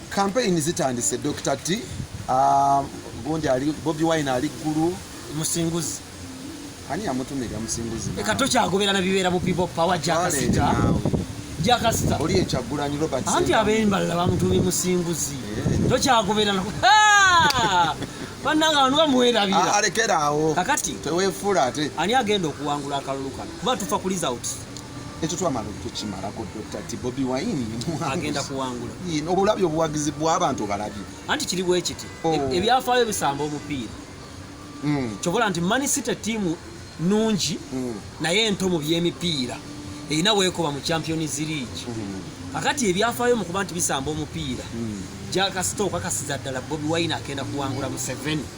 Kampeyini zitandise Dokita T. Ah, gundi ali Bobi Wine ali ggulu. Musinguzi. Ani yamutumira Musinguzi? Eka tokyagobera na bibeera mu People Power Jakasita. Jakasita. Oli ekyagulanyi Robert. Anti abemballa bamutumye Musinguzi. Eh. Tokyagobera na. Bananga wanwa muwerabira. Ah, alekera awo. Kakati. Tewefula ate. Ani agenda okuwangula akalulu kano? Kuba tufa ku results. ekyo twamala okukimalako dr ti bobi wine agenda kuwangula obulabi obuwagizi bwabantu obalabye anti kiri bwekiti oh. e- ebyafaayo bisamba omupiira hmm. kyobola nti manisite tiimu nungi hmm. naye ento mu byemipiira erina wekoba mu champions league hmm. kakati ebyafaayo mukuba nti bisamba omupiira jakasita okakasiza ddala bobi wine agenda kuwangula museveni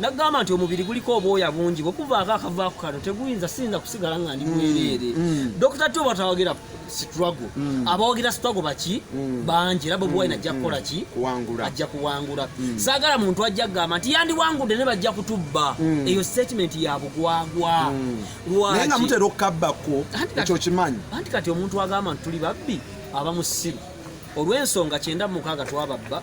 nagamba nti omubiri guliko obwoya bungi bwekuvaako akavaako kano teguyinza siyinza kusigala nga ndi mwereere mm, mm. dokita tyo batawagera struggle mm. abawagira struggle baki mm. bangi era bobi wine mm. ajja kukola ki ajja kuwangula saagala muntu ajja kugamba nti yandiwangudde ne bajja kutubba eyo statement ya bugwagwa lwaki nga mutera okukabbako ekyo kimanyi anti kati omuntu agamba nti tuli babbi aba musiru olw'ensonga kyenda mukaaga twababba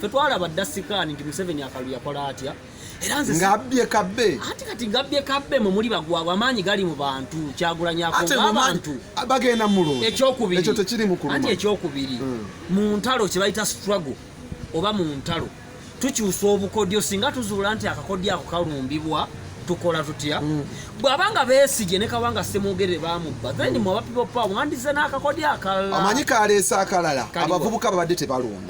fe twalaba dda sikaani nti museveni akalu yakola atya era nze ngabbye kabbe ati kati ngabbye kabbe mwe muli bagwabwe amaanyi gali mu bantu kyagulanyakoabantu bagenda mulungi ekyokubiri ekyo tekiri mukuluma ati ekyokubiri hmm. mu ntalo kye bayita struggle oba mu ntalo tukyusa obukodyo singa tuzuula nti akakodyo ako kalumbibwa tukola tutya mm. bwabanga besigye ne kabanga semwogere bamubba then mm. mwabapipopa wandize n'akakodi akalala amanyi kaleese akalala abavubuka babadde tebalonda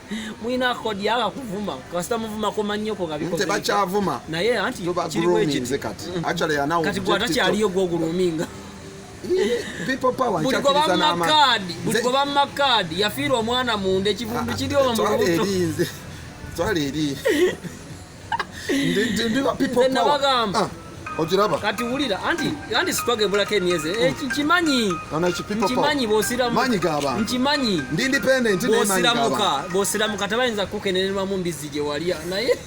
mwina kodi yaka kuvuma kasita muvuma ko manyoko kabiko nte bachavuma naye anti kiri weje kati mm. actually anawo kati gwata kyaliyo gwo guluminga people power nkyakiriza n'ama buli goba mu makaadi yafiirwa omwana munda ekivundu ah, ah, kiri oba mu lubuto twala eri nabagamba ogiraba kati wulira anti anti sitwagebulako emyezi eh, oh. nkimanyi nkimanyi bosiramanyi gabantu nkimanyi ndi independent bosiramuka bosiramuka tebayinza kukenererwamu mbizzi gye walya naye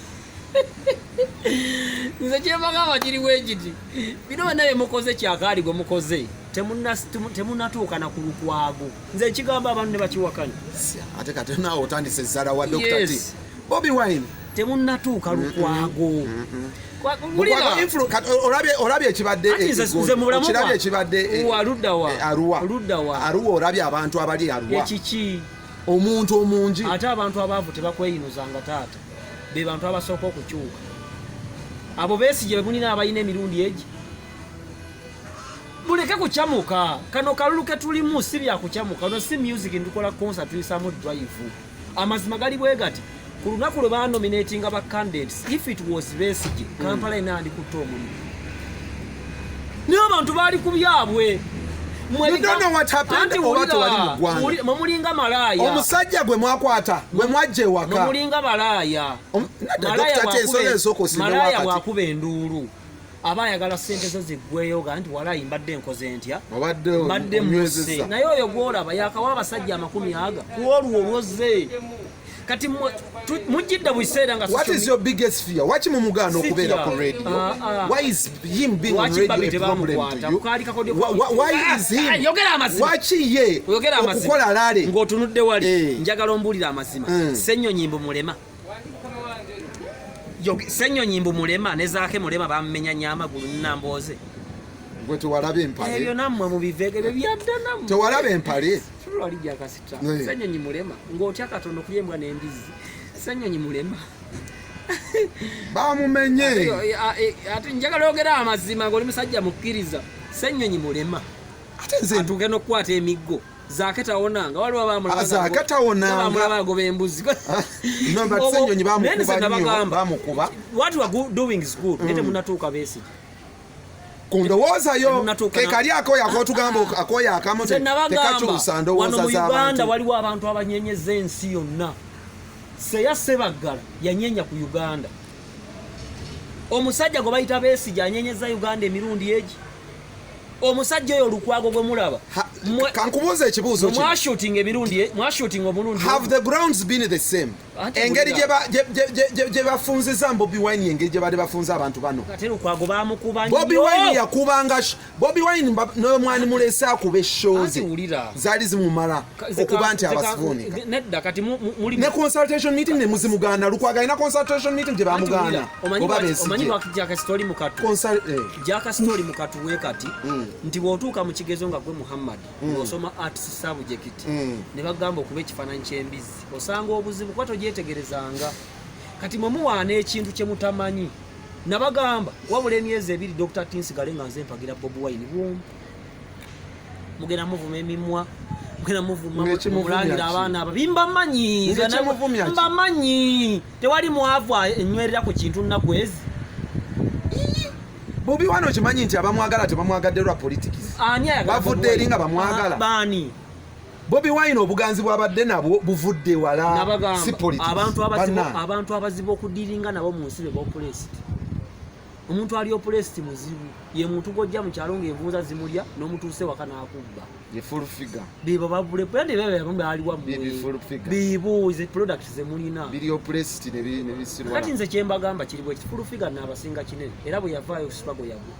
nze kyebagamba kiri wegiti bino bana byemukoze kyakaali gwe mukoze temunatuuka na ku lukwago nze ekigamba abantu ne bakiwakanya ate kati naawe otandise ezzala wa dokita Bobi Wine temunnatuuka lukwago olabye ekibaddeekirabye ekibadde aruwa olabye abantu abali aruwa omuntu omungi ate abantu abaavu tebakweyinuzanga taata be bantu abasooka okukyuka abo besigye bemulina abalina emirundi egi muleke kucamuka kano kalulu ketulimu si byakucamuka no si music ndukola concert tuyisamu drive amazima gali bwe gati ku lunaku lwe banominatinga ba candidates if it was besige hmm. kampala ena andikutte omulimu naye abantu baali ku byabwe mwemulinga malaaya omusajja gwe mwakwata gwe mwajja ewaka mulinga malaaya malaaya bwakuba enduulu aba ayagala sente zo ziggweyo ga nti walayi mbadde nkoze ntya mbadde muse naye oyo gwolaba yakawa abasajja amakumi aga kuolwo olwoze kati mujjidde bukiseera nga what is your biggest fear waki mumugaana okubeera ku radio ah, ah. why is him being on radio a problem to you why ah, is him yogera amazima waki ye okukola lale ng'otunudde wali eh. njagala ombuulira amazima eh. senyonyi mbu mulema senyonyi mbu mulema ne zaake mulema bammenya nyo amagulu nnambooze gwe tewalaba empale ebyo nammwe mubivege bye byadda nammwe tewalaba empale tulwali jakasita senyonyi mulema ng'otya katonda okulya embwa n'embizzi senyonyi mulema bamumenye ate njagala ogera amazima ng'oli musajja mukkiriza senyonyi mulema ate nze ntuuke n'okukwata emiggo Zaka tawona nga waliwo bamulaba. Ah, Zaka tawona. Bamulaba agoba embuzi. Ah, no but senyonyi bamukuba bamukuba. What we are doing is good. Nete mm. munatuuka besi. Kundowooza yo kekali akoya akotugamba ah. akoya akamu tekakyusa ndowooza za bantu. Uganda waliwo abantu abanyenyeza ensi yonna. Seya Sebaggala yanyenya ku Uganda. Omusajja gwe bayita Besigye anyenyeza Uganda emirundi egi. omusajja oyo olukwago gwe mulaba kankubuuza ekibuuzo kino mwashooting emirundi e, mwashooting omulundi have the grounds been the same engeri gye bafunziza bobi wine engeri gye baali bafunza abantu bano ate lukwago bamukuba nnyo bobi wine yakubanga bobi wine n'omwani mulese akuba eshoozi zaali zimumala okuba nti abasivuuni nedda kati muli ne consultation meeting ne muzimu gana lukwaga ina consultation meeting je bamugana oba besi omanyi wa jaka story mukatu consult eh. jaka story mukatu we kati mm. nti wotuka mu kigezo nga gwe muhammad mm. osoma arts subject mm. ne bagamba okuba ekifananyi kyembizi osanga obuzibu kwato jetegerezanga kati mwe muwaana ekintu kye mutamanyi nabagamba wabula emyezi ebiri dr tinsigale nga nze mpagira bobi wine bwomu mugenda muvuma emimwa mugenda muvuma mulangira abaana abo bimbamanyi mbamanyi tewali mwavu enywerera ku kintu nnaku ezi bobi wano okimanyi nti abamwagala tebamwagadde lwa politics bavudde eri nga bamwagala baani bobi wine obuganzi bwabadde nabwo buvudde wala si politics abantu abazibu okudiringa nabo mu nsi be bopulesiti omuntu ali opulesiti muzibu ye muntu gwojja mu kyalo ng'envunza zimulya n'omutuuse waka n'akubba bebo babulebealiwamubibuze product zemulinakati nze kyembagamba kiri bwekiti fulufiga naabasinga kinene era bwe yavaayo sipago yagwe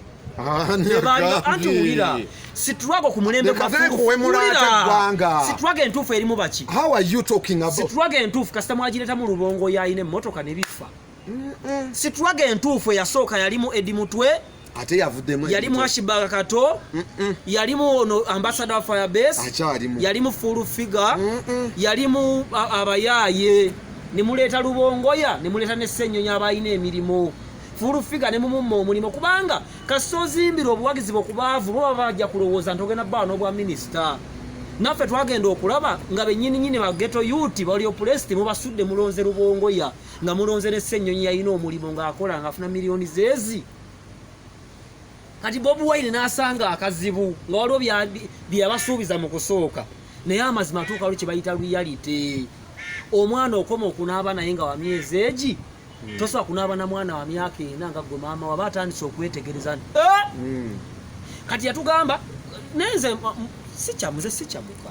anti wulira situlwago ku mulembe situlwago entuufu erimu baki situlwago entuufu kasita mwagiretamu lubongo yalina emmotoka ne bifa sitwaga entuufu eyasooka yalimu edi mutwe ate yavuddemu yali mwashibaga kato yalimu ono ambasada wa firebase akyalimu yalimu full figure yalimu abayaaye nemuleeta lubongoya nemuleeta ne ssennyonyi abalina emirimu full figure nemumumma omulimu kubanga kasita ozimbira obuwagizi bwokubaavu bo baba bajja kulowooza nti ogenda bbawa n'obwa minisita naffe twagenda okulaba nga benyininyini bageto yuti baliopulesiti mubasudde mulonze lubongoya nga mulonze ne ssennyonyi yalina omulimu ng'akola ng'afuna miliyoni zeezi kati bobi wine n'asanga akazibu nga waliwo byeyabasuubiza mu kusooka naye amazima atuuka lwe kyebayita luyalite omwana okoma okunaaba naye nga wa myezi egi hmm. tosobola kunaaba na mwana wa myaka ena nga gwe maama waba atandise okwetegereza nti eh! hmm. kati yatugamba nenze sikyamuze sikyamuka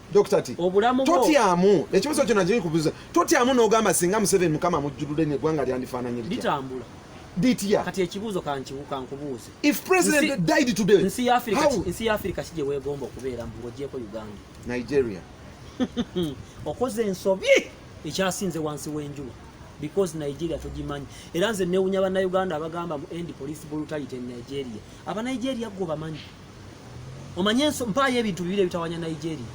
Dokita ti obulamu bwo totyamu ekibuzo kyona kiri kubuza totyamu n'ogamba singa Museveni mukama amujjulule ne gwanga lyandifaananye litya litambula litya kati ekibuzo kankiwuka nkubuuze if president nsi, died today nsi ya Afrika how? nsi ya Afrika kije wegomba okubeera mu ngojeko Uganda Nigeria okoze ensobi ekyasinze wansi w'enjuba because Nigeria tugimanyi era nze newunya bannayuganda abagamba mu end police brutality in Nigeria abanigeria gwo bamanyi omanyi enso mpaayo ebintu bibiri ebitawanya nigeria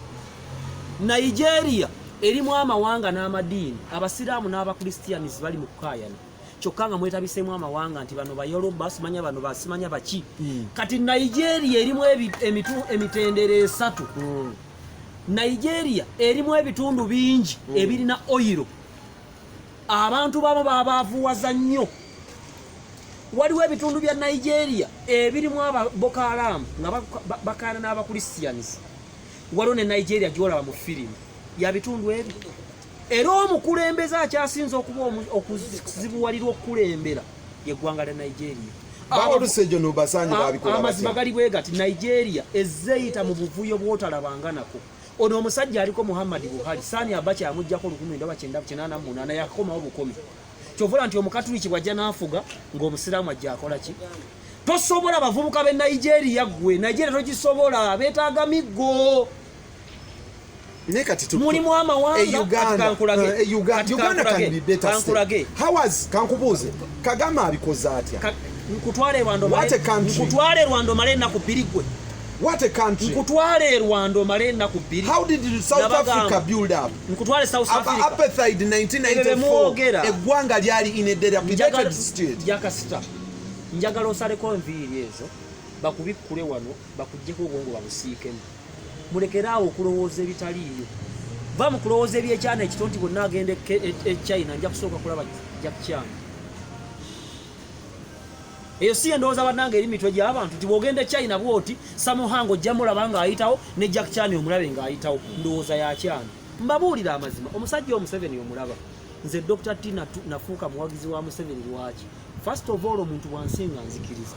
nigeria erimu amawanga n'amadiini abasiraamu n'abakristianis bali mu kukaayana kyokka nga mwetabiseemu amawanga nti bano bayoloba simanya bano basimanya baki hmm. kati nigeria erimu emitendera esatu hmm. nigeria erimu ebitundu bingi hmm. ebirina oyiro abantu babo babaavuwaza nnyo waliwo ebitundu bya nigeria ebirimu ababoko haramu nga bakaana n'abakristians waliwo ne nigeria gyolaba mu firimu ya bitundu ebyo era omukulembeze akyasinze okuba okuzibuwalirwa okukulembera yeggwanga lya nigeria amazima gali bwe gati nigeria ezeyita mu buvuyo bwotalabanga nako ono omusajja aliko muhammadi buhari sani abacha yamujjako olukumi ndaba kyendaba kyenana munaana yakomawo bukumi kyovula nti omukatuliki bwajja n'afuga ng'omusiraamu ajja akola ki tosobola bavubuka be nigeria gwe nigeria togisobola betaaga miggo naye kati mulimu amawangakankulage kankubuuze kagama abikoze atya nkutwale rwanda omale enaku bbiri gwe What a country. Nkutwale e Rwanda omale ennaku bbiri. How did South Africa build up? Nkutwale South Africa. Apartheid 1994. Eggwanga lyali in a dilapidated state. Jakasita. Njagala osaleko enviiri ezo bakubikkule wano bakuggyeko obwongo babusiikemu. Mulekeraawo okulowooza ebitaliiyo. Va mu kulowooza ebyekyana ekito nti bonna agenda e, e, e China nja kusooka kulaba Jack Chan. eyo si endowooza bannanga eri mitwe gy'abantu nti bw'ogenda e china bwoti samuhango ojja mulaba ng'ayitawo ne jack chani omulabe ng'ayitawo ndowooza ya kyani mbabuulira amazima omusajja omuseveni omulaba nze dr t nafuuka muwagizi wa museveni lwaki first of all omuntu wansi nga nzikiriza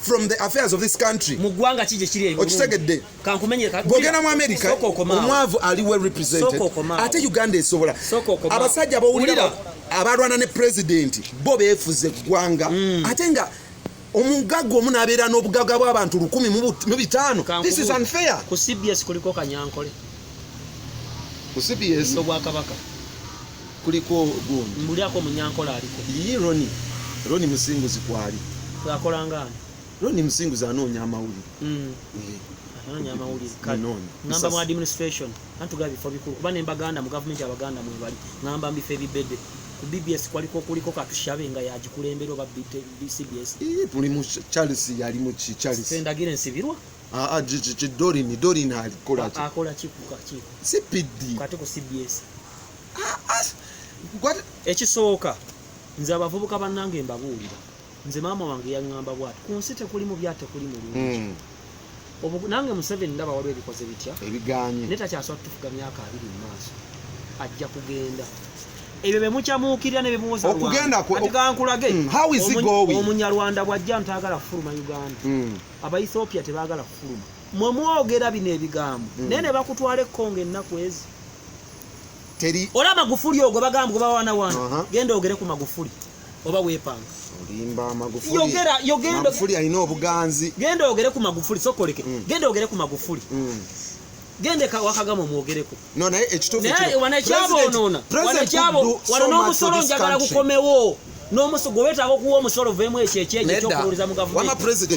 from the affairs of this country mu gwanga kije kiri ebiru okitegedde kankumenye ka bogena mu america omwavu ali well represented ate uganda esobola abasajja bawulira abalwana ne president bo befuze gwanga mm. ate nga omugaga omu nabeera n'obugaga bw'abantu lukumi mu bitaano this is unfair ku cbs kuliko kanyankole ku cbs obwakabaka kuliko gundi mbulyako munyankola aliko yii roni roni musinguzi kwali akolanga ani roni musinguzi anoonya amawulire mm. anoonya amawulire ngamba mu administration antugaba bifo bikulu kuba nembaganda mu gavumenti abaganda mwebali ngamba mbifo ebibede ku bbs kwaliko kuliko katushabe nga yagikulembera oba cbs buli mu charles yali mu charles endagire nsibirwa Ah, ah, dorini dorini alikola sipidi ah, ekisooka nze abavubuka bannange mbabuulira nze maama wange yaŋŋamba bwati ku nsi tekulimu bya tekuli mulungi hmm. nange museveni ndaba waliwo ebikoze bitya ebiganye naye takyasobola tutufuga myaka abiri mu maaso ajja kugenda ebyo bemukyamuukirira nebemuwozaokugendaomunyarwanda hmm, bwajja ntagala kufuluma uganda hmm. abaethiopia tebagala kufuluma mwe mwogera bino ebigambo mm. naye nebakutwala ekkonga ennaku ezi teri ola magufuli ogwo bagamba kuba wana wana uh -huh. genda ogere ku magufuli oba wepanga olimba magufuli yogera yogera magufuli alina obuganzi genda ogere ku magufuli sokoleke mm. genda ogere ku magufuli mm. gendeka wakagama omwogereko no, naye ekituufuwanekyabonoona wanekyabo wano n'omusolo njagala gukomewo n'omusolo gwe wetaaga okuwa omusolo vemu ekyo ekyejo ekyokuwuliza mu gavumenti